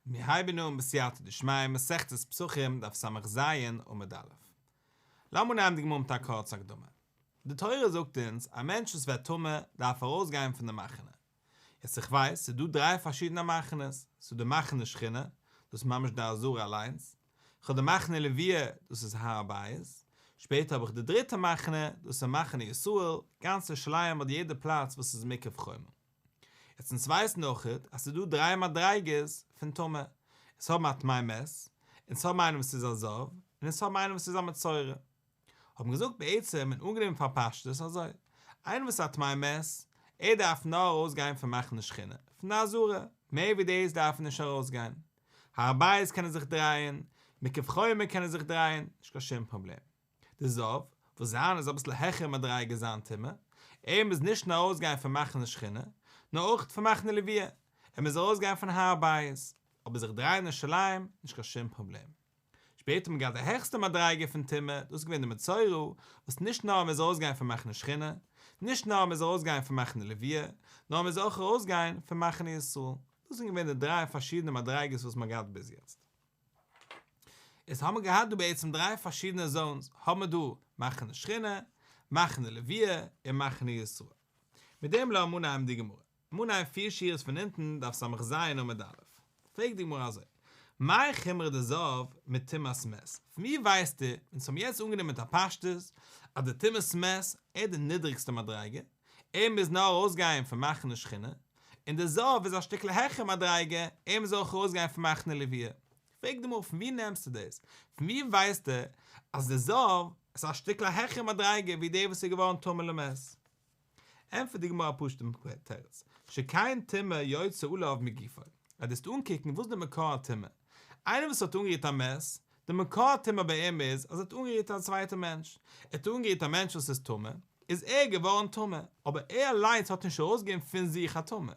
מיר הייבן אן בסייעתא דשמיא מסכת פסחים דף סז עמוד א'. לאמיר נעמען די גמרא מיט א קורצע הקדמה. די תורה זאגט אונז א מענטש וואס ווערט טמא דארף ארויס גיין פון די מחנה. יעצט איך ווייס ס'איז דא דריי פארשידענע מחנות, ס'איז דא די מחנה שכינה, דאס איז ממש די עזרה אליינס, איך האב די מחנה לוויה, דאס איז הר הבית, שפעטער האב איך די דריטע מחנה, דאס איז מחנה ישראל, גאנצע שלייעם האט יעדע פלאץ וואס איז מקף חומה. יעצט אונז ווייסן אויכעט אז ס'איז דא דריי מדריגות פון טומאה, אונז האבן א טמאי מת, אונז האבן איינעם וואס איז א זב, און אונז האבן איינעם וואס איז א מצורע. האבן געזאגט בעצם און אנגענומען פאר פשטות אזוי, איינער וואס איז א טמאי מת, ער דארף נאר ארויסגיין פון מחנה שכינה, פון די עזרה, מער ווי דאס דארף ער נישט ארויסגיין. הר הבית קען ער זיך דרייען, מקוה חומה קען ער זיך דרייען, נישט קיין שום פראבלעם. די זאב, וואס זיין איז אביסל העכער מדריגה זיין טעמע, ער מוז נישט נאר אויסגיין פון מחנה שכינה, נאר אויך פון מחנה לוויה, ער מוז ארויסגיין פון הר הבית, אבער זיך דרייען אין ירושלים, נישט קיין שום פראבלעם. שפעטער האט מען געהאט די העכסטע מדריגה פון טומאה, דאס איז געווען די מצורע, וואס נישט נאר ער מוז ארויסגיין פון מחנה שכינה, נישט נאר ער מוז ארויסגיין פון מחנה לוויה, נאר ער מוז אויך ארויסגיין פון מחנה ישראל. דאס זענען געווען די דריי פארשידענע מדריגות וואס מען האט געהאט ביז יעצט. איז האמער געהאט דא בעצם דריי פארשידענע זאונס, האמער דא מחנה שכינה, מחנה לוויה, און מחנה ישראל. מיט דעם לאמיר אנהייבן די גמרא. מנין פיר שורות פון אונטן דף סמ ז עמוד א', פרעגט די גמרא אזוי, מאי חמרא דזאב מיט טומאת מת, פון ווי ווייסט איר, אונז האבן יעצט אנגענומען מיט א פשטות אז די טומאת מת איז די נידריגסטע מדריגה, ער מוז נאר ארויסגיין פון מחנה שכינה, און די זאב איז א שטיקל העכער מדריגה, אים זאל איך ארויסגיין פון מיין כנלעוויע. פרעג די מרא פון ווי נעמסטו דאס? פון ווי ווייסטו אז די זאב איז א שטיקל העכער מדריגה ווי דער וואס איז געווארן טמא למז? ענטפערט די גמרא א פשוט'ן תירוץ, שכן טומאה יוצא עליו מגופו, אז דו וועסט אנקוקן וואס איז די מקור הטומאה, איינער וואס האט אנגערירט א מז, די מקור טומאה ביי אים איז אז ער האט אנגערירט א צווייטע מענטש. ער האט אנגערירט א מענטש וואס איז טמא, איז ער געווארן טמא, אבער ער אליינס האט נישט ארויסגעגעבן פון זיך א טומאה.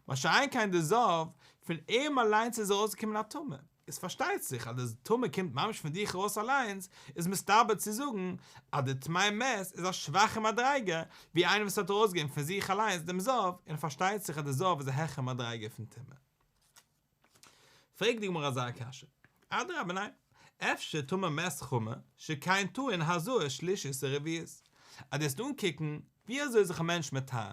מה שאין כן די זב, פון אים אליינס איז ארויסגעקומען א טומאה. איז פארשטייט זיך אז די טומאה קומט ממש פון זיך ארויס אליינס, איז מסתבר צו זאגן אז די טמאי מת איז א שוואכע מדריגה, ווי איינער וואס האט ארויסגעגעבן פון זיך אליינס דעם זב, און פארשטייט זיך אז די זב איז א העכער מדריגה פון טומאה. פרעגט די גמרא אזא קשיא, אדרבה ניין, אפשר טאר מען מעסט חמה ש ק אין טוען הזאה שלישית און רביעית, אז דו וועסט אנקוקן ווי אזוי איז זיך א מענטש מטהר,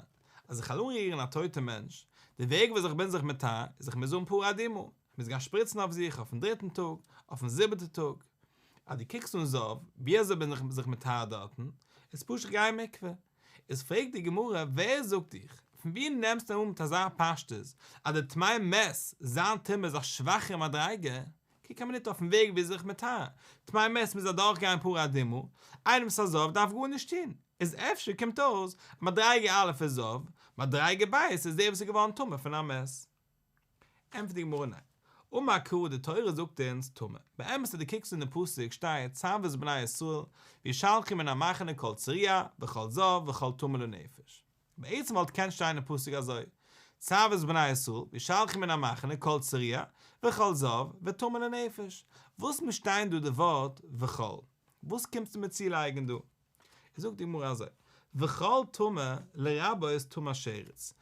אז איך העל אנרירן א טויטע מענטש, די וועג וואס איך בין זיך מטהר איז איך מוז האבן פרה אדומה, איך מוז גיין שפריצן אויף זיך אויפן דריטן טאג, אויפן זיבעטע טאג, אז דו קוקסט אן זאב ווי אזוי בין איך זיך מטהר דארטן, איז פשוט גיי אין מקווה, איז פרעגט די גמרא ווער זאגט דיך? פון ווי נעמסטו אן מיט אזא פשטות אז די טמאי מת זיין טומאה איז א שוואכערע מדריגה? קוק א מינוט אויפן וועג וויאזוי איך מטהר, טמאי מת מוז אדורך גיין פר' אדמו ר, איינער וואס איז א זב דארף גארנישט טון, איז אפשר קומט אויס אז מדריגה א' איז זב, מדריגה ב' איז דער וואס איז געווארן טמא פון א מת. ענטפערט די גמרא ניין. אמר כ די תורה זאגט אונז טמא. באמת אז די קוקסט אין די פסוק שטייט צוות בני ישראל וישלחו מן המחנה כל צריעה וכל זב וכל טמא לנפש. בעצם וואלט געקענט שטיין אין פסוק אזוי צוות בני ישראל וישלחו מן המחנה כל צריעה וכל זב וטמא לנפש. וואס מישט איין דא די ווארט וכל? וואס קומסטו מיר צולייגן דא? איז זאגט די גמרא אזוי, וכל טמא לרבה איז טמא שרץ,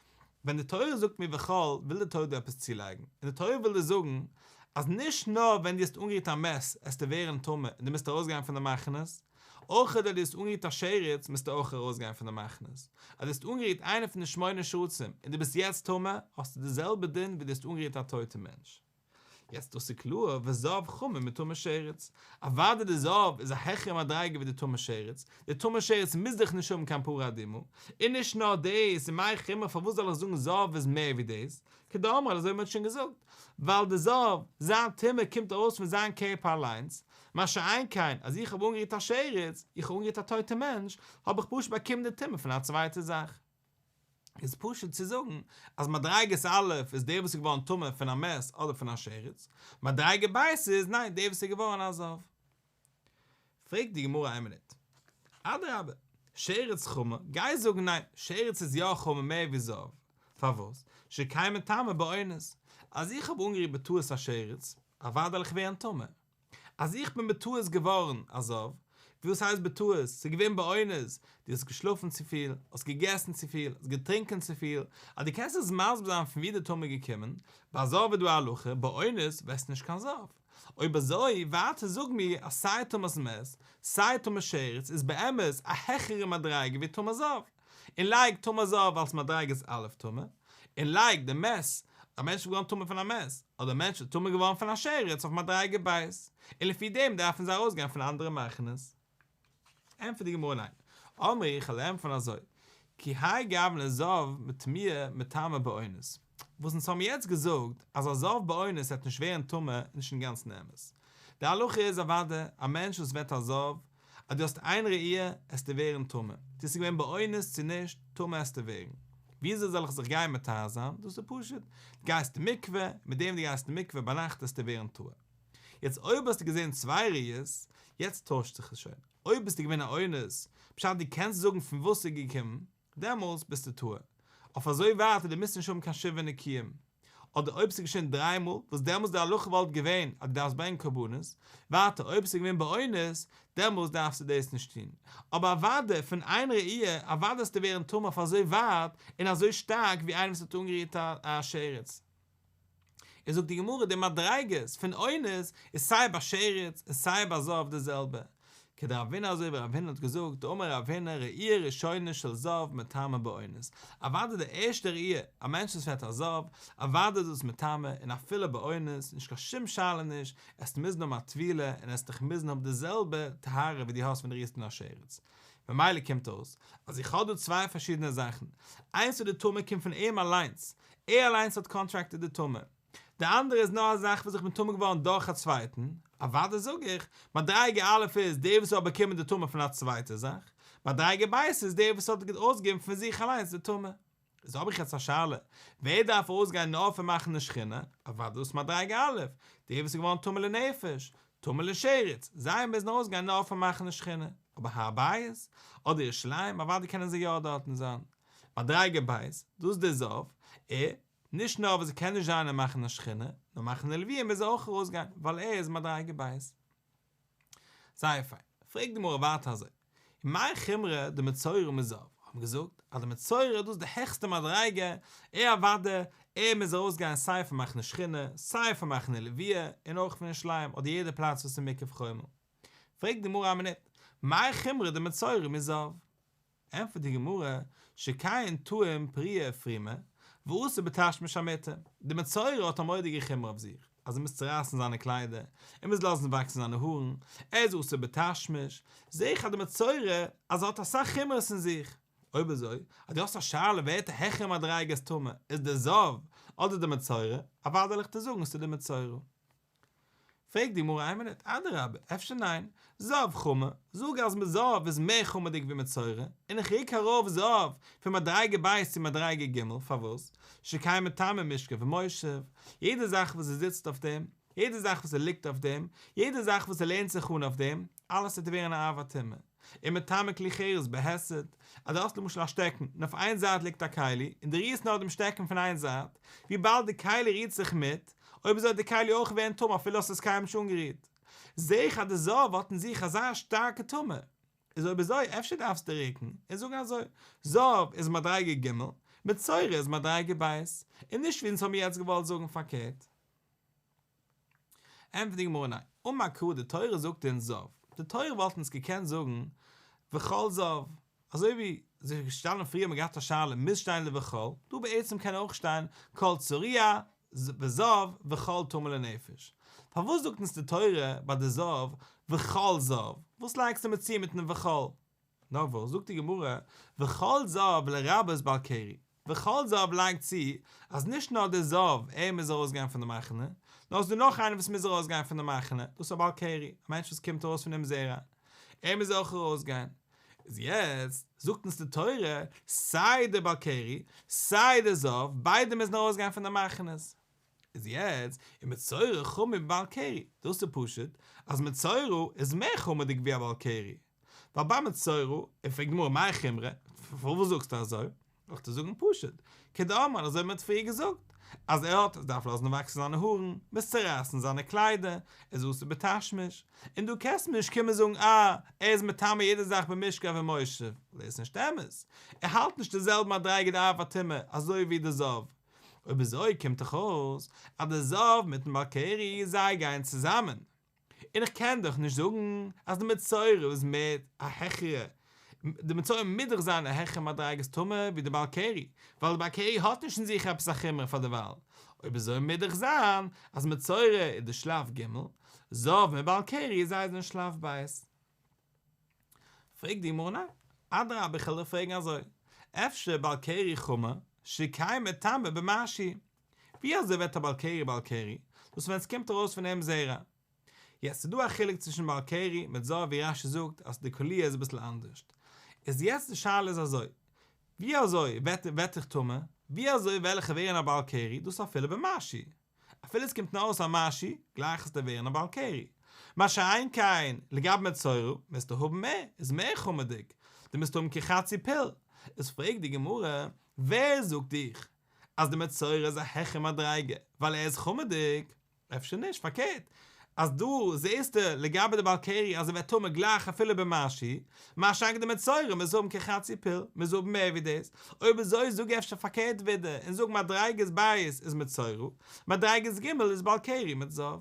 ווען די תורה זאגט מיר וכל וויל די תורה דא עפעס צולייגן, און די תורה וויל דיר זאגן אז נישט נאר ווען דו האסט אנגערירט א מעס עסטו ווערן טמא און דו מוזט ארויס גיין פון די מחנות, אויך אויב דו האסט אנגערירט א שרץ מוזטו אויך ארויס גיין פון די מחנות, אז דו האסט אנגערירט איינע פון די שמונה שרצים און דו ביסט יעצט טמא האסטו די זעלבע דין ווי דו האסט אנגערירט א טויטע מענטש. יעצט דאס איז קלאר וואס זהב חמור מיט טמא שרץ, אוודאי די זהב איז א העכערע מדריגה ווי די טמא שרץ, די טמא שרץ מוז דאך נישט האבן קיין פרה אדומה, און נישט נאר דאס און מאי חמר פארוואס זאל איך זאגן זהב איז מער ווי דאס, כדאמרינן אזוי ווי מ'האט שוין געזאגט, ווייל די זהב, זיין טומאה קומט ארויס פון זיין קערפער אליינס, מה שאין כן אז איך האב אנגערירט א שרץ, איך האב אנגערירט א טויטע מענטש, האב איך פשוט באקומען די טומאה פון א צווייטע זאך. איז פשוט צו זאגן אז מדריגת א' איז דער וואס איז געווארן טמא פון א מעש אדער פון א שרץ, מדריגה ב' איז ניין דער וואס איז געווארן א זב. פרעגט די גמרא איין מינוט, אדרבה, שרץ חמור, גייסט זאגן ניין, שרץ איז יא חמור מער ווי זב, פארוואס? שקיימא טעמא באונס, אז איך האב אנגערירט בטעות א שרץ, אוודאי וועל איך ווערן טמא. אז איך בין בטעות געווארן א זב, ווי וואס הייסט בטעות? ס'איז געווען באונס, דו האסט געשלאפן צופיל, האסט געגעסן צופיל, האסט געטרינקען צופיל, אז דו קענסט אונז מסביר זיין פון ווי די טעם איז געקומען, ביי זב איז דא א הלכה, באונס ווערסטו נישט קיין זב. אויב אזוי, ווייטער זאג מיר אז סיי טעמ'ס מת, סיי טעמ'ס שרץ איז באמת א העכערע מדריגה ווי טעמ'ס זב. און לייג טומאה זהב אלס מדריגת א' טומאה, און לייג די מעש, א מענטש איז געווארן טמא פון א מעש, אדער מענטש איז טמא געווארן פון א שרץ אויף מדריגה ב', און לפי דעם דארפן זיי ארויס גיין פון אנדערע מחנות. ענטפערט די גמרא ניין. אמר ר' איך לערן פון אזוי, כי האי גוונא זהב מטמיאה מטמא באונס, וואס אונז האבן יעצט געזאגט אז א זהב באונס וועט נישט ווערן טמא איז נישט אינגאנצן אמת. די הלכה איז אוודאי, א מענטש וואס וועט א זהב, אז דו האסט איין ראי' עסטו ווערן טמא, צו ס'איז געווען באונס צו נישט, טמא עסטו ווערן. וויאזוי זאל איך זיך גיין מטהר זיין? דאס איז פשוט, דו גייסט אין מקווה, און מיט דעם וואס דו גייסט אין מקווה ביינאכט עסטו ווערן טהור. יעצט אויב האסטו געזען צוויי ראיות, יעצט טוישט זיך עס שוין. אויב ביסטו געווען א אונס, בשעת דו קענסט זאגן פון וואס ס'איז געקומען, דעמאלס ביסטו טועה. אויף אזוי ווייט אז דו מוזט נישט האבן קיין שבעה נקיים. אדער אויב ס'איז געשען דריי מאל, וואס דעמאלס די הלכה וואלט געווען אז דו דארפסט ברענגען קרבנות. ווייטער אויב ס'איז געווען באונס, דעמאלס דארפסטו דאס נישט טון. אבער אוודאי, פון איין ראי', אוודאי האסטו ווערן טמא אויף אזוי ווייט און אזוי שטארק ווי איינער וואס האט אנגערירט א שרץ. און זאגט די גמרא די מדריגות פון עונות איז סיי ביי שרץ און סיי ביי זהב די זעלבע כדרב הונא אזוי ווי רב הונא האט געזאגט אמר רב הונא ראי' ראשונה של זהב מטמא בעונות אוודאי די ערשטע ראי' א מענטש וואס פעלט א זהב אוודאי איז דאס מטמא און אפילו בעונות נישט קיין שום שאלה נישט עסט מוזן האבן א טבילה און עסט דיך מוזן האבן די זעלבע טהרה ווי די האסט ווען די רירסט אן א שרץ ממילא קומט אויס אז איך האב דא צוויי פארשידענע זאכן איינס איז די טומאה קומט פון אים אליינס ער אליינס האט קאנטראקטעד די טומאה. די אנדערע איז נאר א זאך וואס איך בין טמא געווארן דורך א צווייטן, אוודאי זאג איך, מדריגה א' איז דער וואס האט באקומען די טומאה פון א צווייטע זאך, מדריגה ב' איז דער וואס האט אויסגעגעבן פון זיך אליינס די טומאה. איז האב איך יעצט א שאלה, ווער דארף אויסגיין נאר פון מאכן די שכינה, אוודאי דאס מדריגה א', דער וואס איז געווארן טמא לנפש, טמא לשרץ, זיי מוזן אויסגיין נאר פון מאכן די שכינה, אבער הר הבית, אדער ירושלים, אוודאי קענען זיי יא דארטן זיין. מדריגה ב', דאס די זאב ע, נישט נאר וואס ער קען נישט זיין און מאכן א שכינה, נאר מאכן א לוויה מוז ער אויך ארויסגיין, ווייל ער איז מדריגה ב'. זייער פיין. פרעגט די גמרא ווייטער אזוי, ומאי חומרא דמצורע מזאב, האט מען געזאגט אז די מצורע איז דאס די העכסטע מדריגה, ער אוודע, ער מוז ארויסגיין סיי פון מאכן א שכינה, סיי פון מאכן א לוויה, און אויך פון נישט לייען אדער יעדע פלאץ וואס איז מקו חומה. פרעגט די גמרא א מינוט, מאי חומרא דמצורע מזאב? ענטפערט די גמרא, שכיין טועם פריה פרימה, ואסור בתשמיש המיטה, די מצורע האט א מורא'דיגע חומרא אויף זיך, אז ער מוז צורייסן זיינע קליידער, ער מוז לאזן וואקסן זיינע הארן, ער איז אסור בתשמיש, זע איך אז די מצורע אז ער האט אסאך חומרות אין זיך. אויב אזוי, אז דו האסט א שאלה ווער האט א העכערע מדריגה אז טמא איז די זב אדער די מצורע, אוודאי וועל איך דיר זאגן אז ס'איז די מצורע. פרעגט די גמרא איין מינוט, אדרבה, אפשר ניין, זהב חמה, זאג אז מיט זהב איז מער חמה'דיג ווי מיט צורה, און איך ריק ארויף זהב פון מדריגה ב' צו מדריגה ג', פארוואס? שקיים מטעמים משכב ומושב, יעדע זאך וואס ער זיצט אויף דעם, יעדע זאך וואס ער ליגט אויף דעם, יעדע זאך וואס ער לערנט זיך אן אויף דעם, אלעס וועט ווערן א אהבה תמימה. און מטמא כלי חירות בהסת, אז דו האסט למשל א שטעקן און אויף איין זייט ליגט א כלי און דו רירסט נאר דעם שטעקן פון איין זייט, וויבאלד די כלי רירט זיך מיט, אויב אזוי האט די כלי אויך ווערן טמא אפילו האסט עס קיינמאל נישט אנגערירט. זעה איך אז די זאב האט אין זיך אזא שטארקע טומאה, איז אויב אזוי אפשר דארפסטו ריקן און זאגן אזוי, זאב איז מדריגה ג', מצורע איז מדריגה ב', און נישט ווי אונז האמיר יעצט געוואלט זאגן פארקערט. ענטפערט די גמרא ניין, אומה ק די תורה זאגט אונז זאב, די תורה וואלט אונז געקענט זאגן וכל זאב, אזוי ווי עס איז געשטאנען פריער מען האט געהאט א שאלה מוז שטיין לוכל, דא בעצם קען אויך שטיין כל צוריה וזאב וכל טמא לנפש, פארוואס זאגט אונז די תורה ביי די זאב וכל זאב, וואס לייגסטו מיר צו מיטן וכל? נאר וואס, זאגט די גמרא, וכל זהב לרבות בעל קרי, וכל זהב לייגט צו אז נישט נאר דער זהב ער מוז ארויס גיין פון די מחנה, נאר עס איז דא נאך איינער וואס מוז ארויס גיין פון די מחנה, דאס איז א בעל קרי, א מענטש וואס קומט ארויס פונעם זרע, ער מוז אויך ארויס גיין. איז יעצט, זאגט אונז די תורה, סיי דער בעל קרי, סיי דער זהב, ביידע מוזן ארויס גיין פון די מחנות. איז יעצט, איז מצורע חמור ווי בעל קרי, דאס איז פשוט, אז מצורע איז מער חמור'דיג ווי א בעל קרי, ווייל בא מצורע, ער פרעגט גמרא מאי חומרא, פארוואס זאגסטו אזוי? דאכט ער זאגן פשוט, כדאמרן אזוי ווי מ'האט פריער געזאגט, אז ער האט, ער דארף לאזן וואקסן זיינע הארן, ביז צו רייסן זיינע קליידער, איז אסור בתשמיש, און דו קענסט מיר נישט קומען זאגן אה, ער איז מטמא יעדע זאך במשכב ומושב, ווייל דאס איז נישט אמת, ער האלט נישט די זעלבע מדריגה די אב הטומאה אזוי ווי די זב, אויב אזוי קומט דאך אויס אז די זב מיטן בעל קרי זיי גייען צוזאמען. און איך קען דאך נישט זאגן אז די מצורע איז מער א העכערע, די מצורע מוז דאך זיין א העכערע מדריגת טומאה ווי די בעל קרי, ווייל די בעל קרי האט נישט אין זיך עפעס א חומרא פאר דערווייל, אויב אזוי מוז דאך זיין אז מצורע איז די שלב ג', זאב און בעל קרי איז זייער זענען שלב ב'. פרעגט די גמרא ניין, אדרבה איך העל דיר פרעגן אזוי, אפשר בעל קרי חמור, שקיימת טעמא במעשי', ווי אזוי ווערט א בעל קרי בעל קרי? דאס ווען עס קומט ארויס פון אים זרע. יעצט ס'איז דא א חילוק צווישן בעל קרי מיט זרע ווי רש י זאגט אז די קוליע איז אביסל אנדערש. איז יעצט די שאלה איז אזוי, ווי אזוי וועט וועט איך טמא? ווי אזוי וועל איך ווערן א בעל קרי? דאס אפילו במשי. אפילו עס קומט נאר ארויס א משי, גלייך עס דיר ווערן א בעל קרי. מה שאין כן לגבי מצורע, מוזטו האבן מער, איז מער חמר'דיג. דו מוזט האבן כחצי פיל. איז פרעגט די גמרא, ווער זאגט דיך אז די מצורע איז א העכער מדריגה ווייל ער איז חמה'דיג? אפשר נישט, פארקערט אז דא זעהסטו לגבי די בעל קרי אז ער ווערט טמא גלייך אפילו במשי, מה שאין כן די מצורע מוז האבן כחצי פיל, מוז האבן מער ווי דאס, אויב אזוי זאג אפשר פארקערט ווידער און זאג מדריגת בית איז מצורע, מדריגת ג' איז בעל קרי מיט זהב.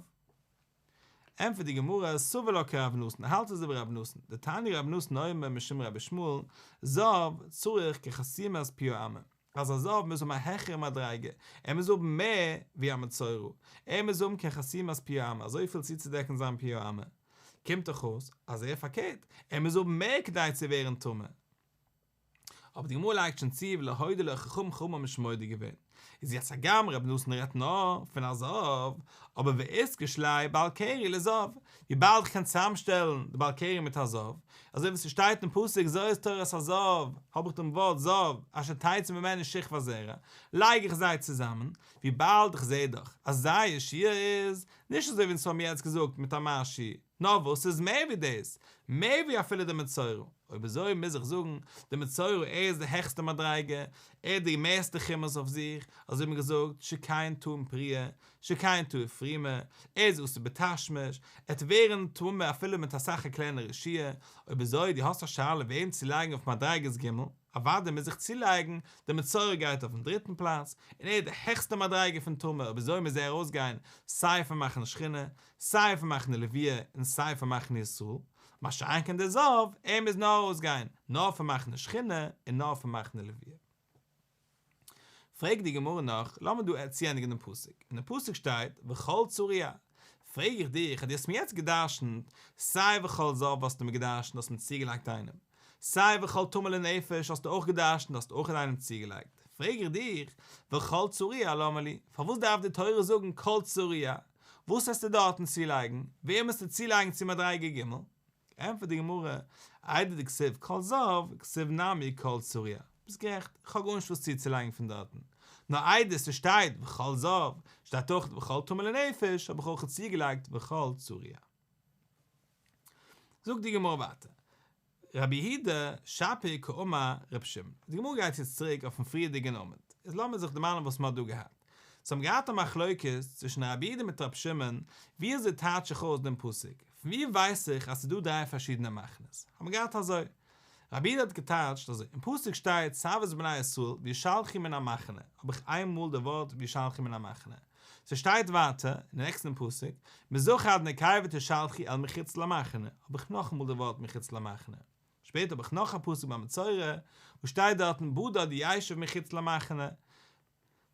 ענטפערט די גמרא, סובר לא כרב נתן, האלט אזוי ווי רב נתן, דתני רב נתן אומר משום רבי שמואל, זהב צריך כחסימת פי האמה, אז א זהב מוז האבן א העכערע מדריגה, ער מוז האבן מער ווי א מצורע, ער מוז האבן כחסימת פי האמה, אזויפיל צוצודעקן זיין פי האמה, קומט דאך אויס אז ער פארקערט, ער מוז האבן מער כדי צו ווערן טמא. אבער די גמרא לייגט שוין צו ולהוידע לו חכם חמור משמוידע געווען, איז יעצט הגם רבי נתן רעדט נאר פון א זהב, אבער ועיסק איש ליה בעל קרי לזהב, וויבאלד כ'קען צוזאמשטעלן די בעל קרי מיט א זהב, אזוי ווי ס'שטייט אין פסוק זו איז תורת הזהב, האב איך דעם ווארט זהב אשר תעצום ממני שכבה זרה, לייג איך זיי צוזאמען, וויבאלד כ'זעה דאך אז זייער שיעור איז, נישט אזוי ווי אונז האבן יעצט געזאגט מיט א מעשי, נאר וואס ס'איז מער ווי דאס, מער ווי אפילו די מצורע, אויב אזוי מוז איך זאגן, די מצורע ער איז די העכסטע מדריגה, ער האט די מערסטע כמוס אויף זיך, אזוי האט מען געזאגט, שקיין טועם פריה, שקיין טועם פרימה, ער איז אסור בתשמיש, ער וועט ווערן טמא אפילו מיט אסאך א קלענער רשעה, אויב אזוי דו האסט א שאלה וועם צו לייגן אויף מדריגת ג', אוודאי מוז איך צולייגן, די מצורע גייט אויפן דריטן פלאץ, און ער איז די העכסטע מדריגה פון טומאה אויב אזוי מוז ער ארויסגיין סיי פון מחנה שכינה, סיי פון מחנה לוויה און סיי פון מחנה ישראל, מה שאין כן דער זאב, ער מוז נאר אויסגיין נאר פון מחנה שכינה און נאר פון מחנה לוויה. פרעגט די גמרא נאך, לאמיר דא צוענדיגן דעם פסוק, אין דעם פסוק שטייט וכל צוריה, פרעג איך דיך אז דו האסט מיר יעצט גע'דרש'נט סיי וכל זאב האסטו מיר גע'דרש'נט האסט מיר צוגעלייגט איינעם, סיי וכל טמא לנפש האסטו אויך גע'דרש'נט האסט אויך איינעם צוגעלייגט, פרעג איך דיך וכל צוריה למה לי, פארוואס דארף די תורה זאגן כל צוריה, וואס העסטו דארטן צולייגן? וועם העסטו צולייגן צו מדריגה ג'? ענטפערט די גמרא, איידער די כסוף כל זהב, כסוף נמי כל צוריה. ביסט גערעכט, איך האב גארנישט וואס צוצולייגן פון דארטן. נאר איידער ס'שטייט וכל זהב, שטייט אויך וכל טמא לנפש, האב איך אויך צוגעלייגט וכל צוריה. זאגט די גמרא ווייטער, רבי יהודה שפיר כאמר רבי שמעון. די גמרא גייט יעצט צוריק אויפן פריערדיגן עמוד, איז לאמיר זיך דערמאנען וואס מ'האט דא געהאט. זיי האבן געהאט א מחלוקת צווישן רבי יהודה מיט רבי שמעון, ווי אזוי טייטש איך אויס דעם פסוק? פון ווי ווייס איך אז ס'איז דא דריי פארשידענע מחנות? האבן געהאט אזוי, רבי איד האט געטייטשט אזוי, אין פסוק שטייט צוות בני ישראל וישלחו מן המחנה, האב איך איין מאל די ווארט וישלחו מן המחנה. ס'שטייט ווייטער, אין די נעקסטן פסוק, מזרחה עד נקיה ותשלחי אל מחוץ למחנה, האב איך נאכאמאל די ווארט מחוץ למחנה. שפעטער האב איך נאך א פסוק במצורע, וואס שטייט דארטן בדד ישב מחוץ למחנה,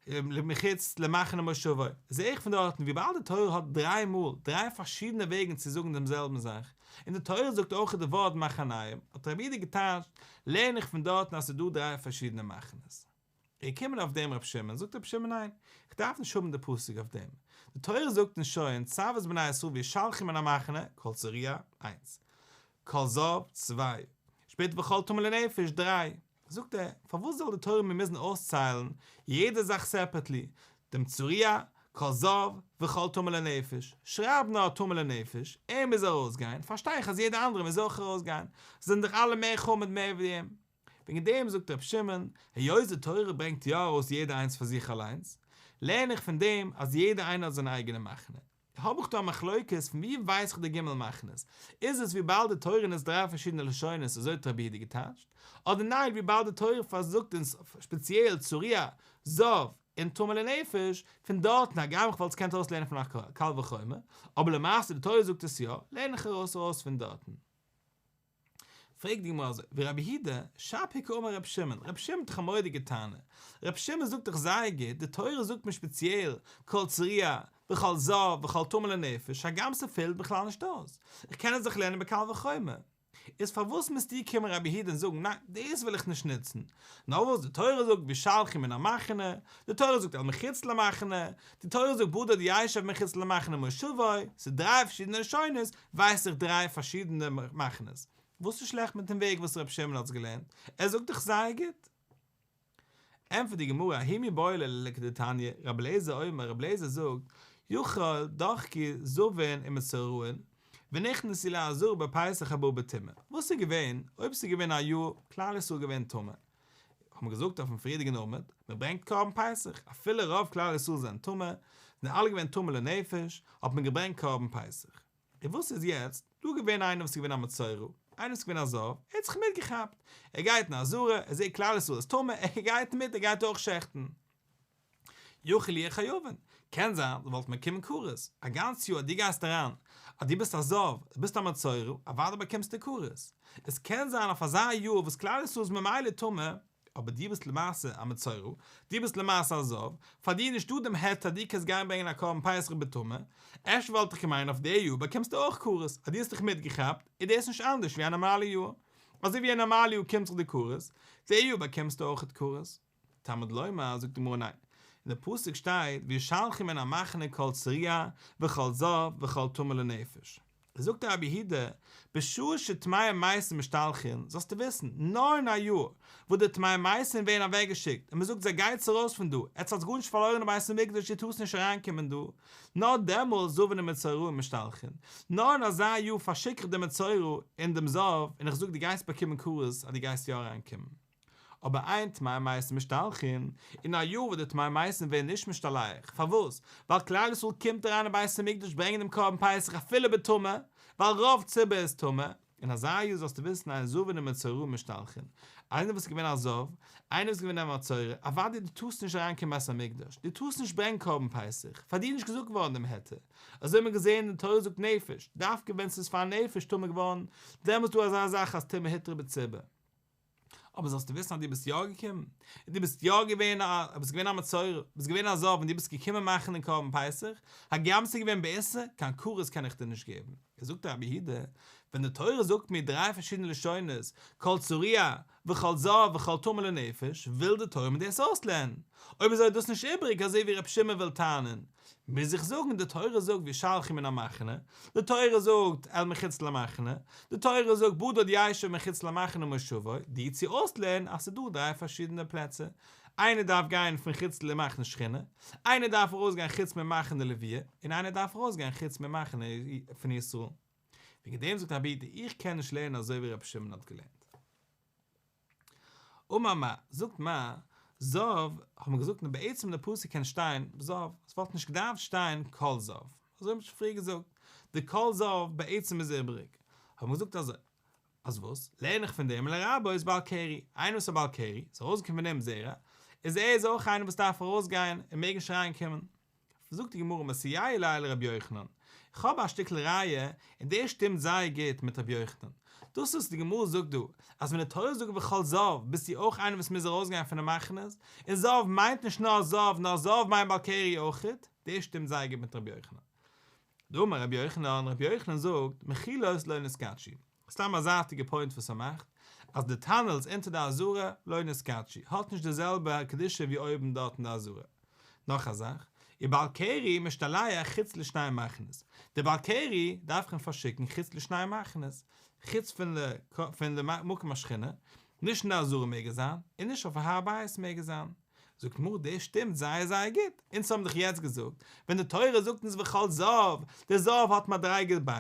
למחוץ למחנה מושבו, זעה איך פון דארטן וויבאלד די תורה האט דריי מאל דריי פארשידענע וועגן צו זאגן דעם זעלבן זאך, און די תורה זאגט אויך די ווארט מחניים, האט רבי איד געטייטשט, לערן איך פון דארטן אז ס'איז דא דריי פארשידענע מחנות. איך קום און אויף דעם רבי שמעון, זאגט רבי שמעון ניין, איך דארף נישט האבן די פסוק אויף דעם, די תורה זאגט אונז שוין צב את בני ישראל ווי שלחים אין א מחנה, כל צוריה, איינס. כל זב, צוויי. שפעטער וכל טמא לנפש, דריי. זאגט ער, פארוואס זאל די תורה מיר מוזן אויסציילן יעדע זאך סעפערעטלי, דעם צוריה, כל זב, וכל טמא לנפש, שרייב נאר טמא לנפש, ער מוז ארויסגיין, פארשטיי איך אז יעדער אנדערער מוז אויך ארויסגיין, זיי זענען דאך אלע מער חמור מער ווי אים. וועגן דעם זאגט רבי שמעון, היות די תורה ברענגט יא ארויס יעדע איינס פאר זיך אליינס, לערן איך פון דעם אז יעדע איינער האט זיין אייגענע מחנה, האב איך דא א מחלוקת, פון ווי ווייס איך די ג' מחנות? איז עס וויבאלד די תורה נוצט דריי פארשידענע לשונות אזוי האט רבי יהודה געטייטשט, אדער ניין וויבאלד די תורה פארזאגט אונז ספעציעל צו ריה, זאב, און טומאה לנפש, פון דארטן הגם איך וואלט עס געקענט אויסלערנען פון א קל וחומר, אבער למעשה די תורה זאגט עס יא, לערן איך ארויס ארויס פון דארטן. פרעגט די גמרא אזוי, ורבי הידא, שב היכא אמר רבי שמעון, רבי שמעון האט דאך א מורא'דיגע טענה, רבי שמעון זאגט דאך זייער גוט, די תורה זאגט מיר שפעציעל, כל צריעה, וכל זב, וכל טמא לנפש, הגם ס'פעלט בכלל נישט אויס, איך קען עס דאך לערנען בקל וחומר, איז פארוואס מוזט איר קומען רבי הידא און זאגן ניין, דאס וויל איך נישט נוצן, נאך וואס די תורה זאגט ווי שלחי מן המחנה, די תורה זאגט על מחוץ למחנה, די תורה זאגט בודד ישב מחוץ למחנה מושבו, ס'דרײַ פארשידענע לשונות, ווייס איך דריי פארשידענע מחנות, וואס איז שלעכט מיטן וועג וואס רבי שמעון האט עס געלערנט? ער זאגט דאך זייער גוט! ענטפערט די גמרא, אהי מי בוילה ליה כדתניא, רבי אליעזר אומר, רבי אליעזר זאגט, יאכל דוחקי זבעין עם מסורהין, ונכנס אלי אזור בפסח הבא בטומאה, וואס איז געווען אויב ס'איז געווען א יאר כלל ישראל געווען טמא, האט מען געזאגט אויפן פריערדיגן עמוד, מען ברענגט קרבן פסח, אפילו רוב כלל ישראל זענען טמא, זענען אלע געווען טמא לנפש, האט מען געברענגט קרבן פסח. און וואס איז יעצט? דא געווען איינער וואס איז געווען א מצורע, איינער וואס איז געווען א זב, ער האט זיך מיטגעכאפט, ער גייט אין א זארע, ער זעט כלל ישראל איז טמא, ער גייט מיט, ער גייט אויך שעכטן. יכול יהיה כיוון, קען זיין דו וואלסט מקיים כרת א גאנץ יאר אז דו גייסט אריין אז דו ביסט א זאב, אז ביסט א מצורע, אוודאי באקומסטו כרת, עס קען זיין אויף אזא יאר וואס כלל ישראל איז ממילא טמא, אבער דו ביסט למעשה א מצורע, דו ביסט למעשה א זאב, פאר דיר איז נישטא דעם היתר אז דו קענסט גיין ברענגען א קרבן פסח בטומאה, אפשר וואלט איך געמיינט אויף די יאר באקומסטו אויך כרת, אז דו האסט דיך מיטגעכאפט איז דאס נישט אנדערש ווי א נארמאלע יאר, אזוי ווי א נארמאלע יאר קומט זיך די כרת, די יאר באקומסטו אויך כרת. תלמוד לומר, זאגט די גמרא ניין, אין די פסוק שטייט וישלחם אין המחנה כל צריה וכל זב וכל טמא לנפש, זאגט די רבי הי ד, בשעה שטמא'ע מייסען משתלחין, זאלסטו וויסן, נאר אין א י, וואס די טמא'ע מייסען ווערן אוועק געשיקט, און מען זאגט זיי גייטס ארויס פון דא, עטס האטס גארנישט פארלוירן אין בית המקדש איר טארסט נישט אריין קומען דא, נאר דעמאלס זבו ן מצורעים משתלחין, נאר אין אזא י פארשיק איך דעם מצורע און דעם זב, און איך זאג דו גייסט באקומען כרת אז דו גייסט יא אריין קומען. אבער איין טמאי מייסן משתלחין, און א יאר וואס די טמאי מייסן ווערן נישט משתלח, פארוואס? ווייל כלל ישראל קומט אריין אין בית המקדש ברענגען דעם קרבן פסח אפילו בטומאה, ווייל רוב ציבור איז טמא, אין אזא יאר זאלסטו וויסן אז עשו און מצורע משתלחין, איינער וואס איז געווען עשו, איינער וואס איז געווען א מצורע, אוואדי דו טארסט נישט אריין קיין בית המקדש, דו טארסט נישט ברענגן קרבן פסח, פאר דיר איז נישט געזאגט געווארן דעם היתר, אזוי האט מען געזען אין תורה זאגט נפש, דווקא ווען ס'איז פאר נפש טמא געווארן, דעמאלס איז דא אזא זאך אז טומאה היתרה בציבור. אבער זאלסטו וויסן אז דו ביסט יא געקומען, און דו ביסט יא געווען א, ביסט געווען א מצורע, דו ביסט געווען א זאב און דו ביסט געקומען מאכן דעם קרבן פסח, הגם ס'איז געווען בעיסה, קיין כרת קען איך דיר נישט געבן. עס זאגט דער רבי הידע, ווען די תורה זאגט מיר דריי פארשידענע לשונות, כל צוריה, וכל זאב, וכל טמא לנפש, וויל די תורה מיר דאס אויסלערנען. אויב איז אודות נישט איבריג, אזוי ווי ר' שמעון וויל טענה'ן, מוז איך זאגן די תורה זאגט ווי שלחי מן המחנה, די תורה זאגט אל מחוץ למחנה, די תורה זאגט בודד יישב מחוץ למחנה ומושבו, די צו אויסלערנען אז ס'איז דא דריי פארשידענע פלעצער, איינער דארף גיין פון חוץ למחנה שכינה, איינער דארף ארויסגיין חוץ ממחנה לוויה, און איינער דארף ארויסגיין חוץ ממחנה פון ישראל. וועגן דעם זאגט אבי די איך קען נישט לערנען אזוי ווי רבי שמעון האט געלערנט. אמר מר. זאגט מר. זאב, האט מען געזאגט און בעצם די פסוק קען שטיין זאב, עס וואלט נישט געדארפט שטיין כל זאב, אזוי האט מען שוין פריער געזאגט, די כל זאב בעצם איז איבריג, האט מען געזאגט אזוי, אז וואס לערן איך פון דעם אלא רבא איז בעל קרי, איינער וואס איז א בעל קרי, ס'איז ארויסגעקומען פון אים זרע, איז ער איז אויך איינער וואס דארף ארויסגיין און מעגן שרייען קומען. זאגט די גמרא מסייעי ליל ר' יוחנן, איך האב א שטיקל ראיה און דאס שטימט זייער גוט מיט ר' יוחנן, דאס וואס די גמרא זאגט דא אז ווען די תורה זאגט וכל זהב ביסטו אויך איינער וואס מוז ארויסגיין פון די מחנות, און זהב מיינט נישט נאר זהב נאר זהב מיינט בעל קרי אויכעט, דאס שטימט זייער גוט מיט ר' יוחנן. דאמר ר' יוחנן, ר' יוחנן זאגט, מחילות לא נזקקין. סתם א זייטיגע פוינט וואס ס'מאכט אז די טאנעלס אונטער די אזורה לוינע סקאטשי האט נישט די זעלבע קדושה ווי אויבן דארט אין די אזורה. נאך א זאך, איר בעל קרי משתלח חוץ לשני מחנות. די בעל קרי דארף איך אים פארשיקן חוץ לשני מחנות. חוץ פון ל ק פון די מקום השכינה. נישט אין די אזורה מעג ער זיין, און נישט אויף הר הבית מעג ער זיין. זאגט מרת דאס שטימט זייער זייער גוט, אונז האבן דאך יעצט געזאגט ווען די תורה זאגט אונז וכל זהב, דער זהב האט מדריגה ב',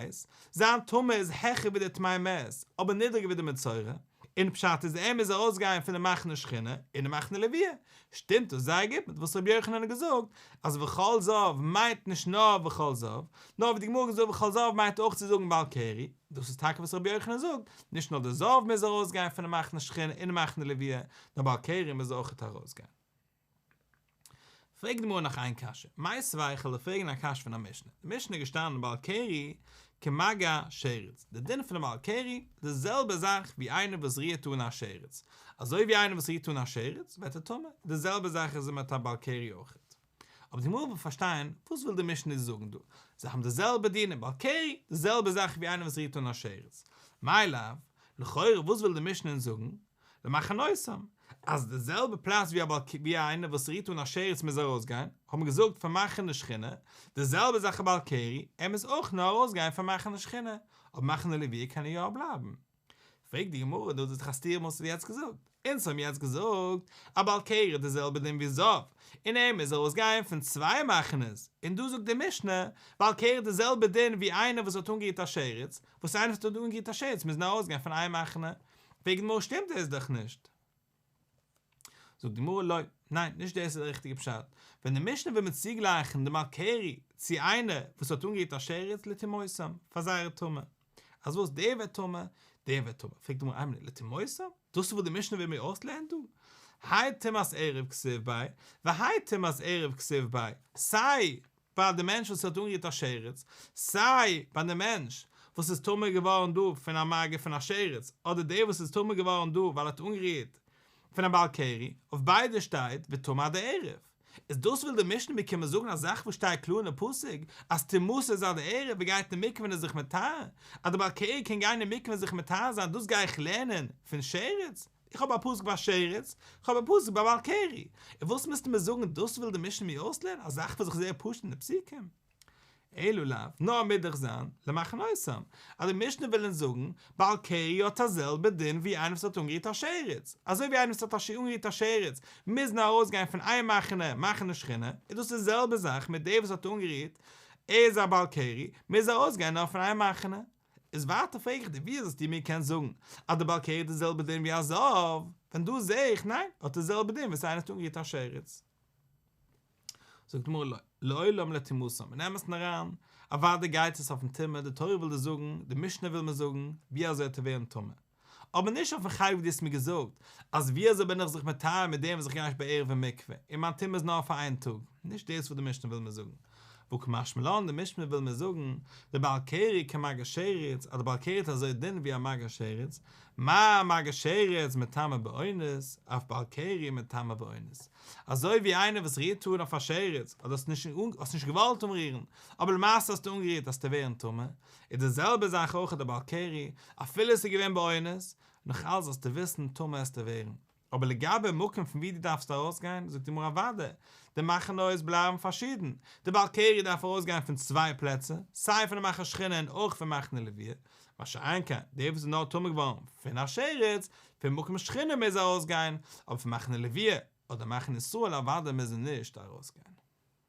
זיין טעמא איז העכער ווי דער טמאי מת, אבער נידריגער ווי דער מצורע, און פשט איז ער מוז ארויסגיין פון די מחנה שכינה און די מחנה לוויה, שטימט דאס זייער גוט מיט וואס ר' יוחנן האט געזאגט אז וכל זהב מיינט נישט נאר וכל זהב, נאר ווי די גמרא האט געזאגט וכל זהב מיינט אויך צו זאגן בעל קרי, דאס איז טאקע וואס ר' יוחנן זאגט, נישט נאר דער זהב מוז ארויסגיין פון די מחנה שכינה און די מחנה לוויה, דער בעל קורא מוז אויכעט ארויסגיין. פרעגט די גמרא נאך איין קשיא, מאי סביך עליה פרעגן א קשיא פון א משנה, אין משנה איז געשטאנען בעל קרי כמגע שרץ, די דין פונעם בעל קרי איז די זעלבע זאך ווי איינער וואס רירט אן א שרץ, אזוי ווי איינער וואס רירט אן א שרץ ווערט ער טמא, די זעלבע זאך איז מיט א בעל קרי אויכעט. אבער די מלמדים פארשטייען וואס וויל די משנה זאגן דא, זיי האבן די זעלבע דין און בעלקערי, די זעלבע זאך ווי איינער וואס רירט אן א שרץ, מילא, לכאורה וואס וויל די משנה אונז זאגן, למחנותם, אז די זעלבע פלאץ ווי א בעלקערי ווי איינער וואס רירט אן א שרץ מוז ארויסגיין, האט מען געזאגט פאר מחנה שכינה, די זעלבע זאך א בעלקערי, ער מוז אויך נאר ארויסגיין פאר מחנה שכינה, אבער מחנה לוויה קען ער יא בלייבן. פרעגט די גמרא, דאס איז דאך א סתירה וואס האסט יעצט געזאגט, אונז האבן יעצט געזאגט אז בעל קערה איז די זעלבע דין ווי זאב, און ער מוז ארויסגיין פון צוויי מחנות, און דא זאגט די משנה, בעל קערה איז די זעלבע דין ווי איינער וואס האט אנגערירט א שרץ, וואס איינער וואס האט אנגערירט א שרץ מוזן ארויסגיין פון איין מחנה, פרעגט די גמרא שטימט דאס דאך נישט. זאגט די גמרא לא, ניין, נישט דאס איז דער ריכטיגער פשט, ווען די משנה וויל מיר צוגלייכן די מאלקערי צו איינער וואס האט אנגערירט א שרץ לטימאותם, פאר זייערע טומאה, אז וואס דער ווערט טמא, דער ווערט טמא, פרעגט די גמרא איין מינוט, לטימאותם? דאס איז וואס די משנה וויל מיר אויסלערנען דא? האי טמאת ערב כסוף ביי, והאי טמאת ערב כסוף ביי, סיי פאר די מענטש וואס האט אנגערירט א שרץ, סיי ביי די מענטש וואס איז טמא געווארן דא פון א מגע פון א שרץ, אדער דער וואס איז טמא געווארן דא ווייל ער האט אנגערירט פון א בעל קרי, אויף ביידע שטייט וטמא עד הערב. איז דאס וויל די משנה מיר קומען זאגן א זאך וואס שטייט קלאר אין די פסוק אז טומאות איז עד הערב, ער גייט אין מקווה און איז זיך מטהר, אז דער בעל קרי קען גיין אין מקווה און זיך מטהר זיין, דאס גיי איך לערנען פון שרץ? איך האב א פסק ביי שרץ, איך האב א פסק ביי בעל קרי, און וואס מיזטו מיר זאגן, דאס וויל די משנה מיר אויסלערנען, א זאך וואס איך זעה פשוט אין די פסוקים? אלא לאו, נאר מוז דאך זיין, למחנ אויסם, אז די משנה וויל אונז זאגן, בעל קרי האט א זעלבע דין ווי איינער וואס האט אנגערירט א שרץ, אזוי ווי איינער וואס האט השי ת אנגערירט א שרץ, מוז נאר ארויסגיין פון איין מחנה, מחנה שכינה, איז דאס די זעלבע זאך מיט דער וואס האט אנגערירט, ער איז א בעל קרי, מוז ארויסגיין נאר פון איין מחנה, איז ווייטער פרעג איך דיר, ווי איז עס דיר מיר קענסט זאגן אז די בעל קערעט איז זעלבע דין ווי א זאב, ווען דא זעה איך ניין אט איז זעלבע דין וואס איינער האט אנגערירט א שרץ. זאגט די גמרא לעולם לא תמוסם און אמת און אריין, אוודאי גייט עס אויפן טומאה, די תורה וויל דיר זאגן, די משנה וויל מיר זאגן, ווי אזוי האט ער ווערן טמא? אבער נישט אויפן חלק ווי דו האסט מיר געזאגט, אז ווי אזוי בין איך זיך מטהר מיט דעם וואס איך גיי נישט בערב אין מקווה, און מיין טומאה איז נאר פאר איין טאג, נישט דאס וואס די משנה וויל מיר זאגן. וואו כמשמע לן די משנה וויל מיר זאגן, די בעל קרי כמגן שרץ, אז די בעל קרי האט אזוי דין ווי א מגן שרץ, מה א מגן שרץ מטמא באונס, אויף בעל קרי מטמא באונס. אזוי ווי איינער וואס רירט אן אויף א שרץ, אדער האסט נישט געוואלט אנרירן, אבער למעשה האסטו אנגערירט האסטו ווערן טמא, איז די זעלבע זאך אויך די בעל קרי, אפילו עס איז געווען באונס, נאך אלס זאלסטו וויסן טמא עסטו ווערן. אבער לגבי מקום פון ווי דו דארפסט ארויסגיין, זאגט די גמרא אוודאי, די מחנות בלייבן פארשידן, די בעל קרי דארף ארויסגיין פון צוויי פלעצער, סיי פון די מחנה שכינה און אויך פון מחנה לוויה, מה שאין כן, דער וואס איז נאר טמא געווארן פון א שרץ, פון מקום שכינה מוז ער ארויסגיין, אבער פון מחנה לוויה אדער מחנה ישראל אוודאי מוז ער נישט ארויסגיין.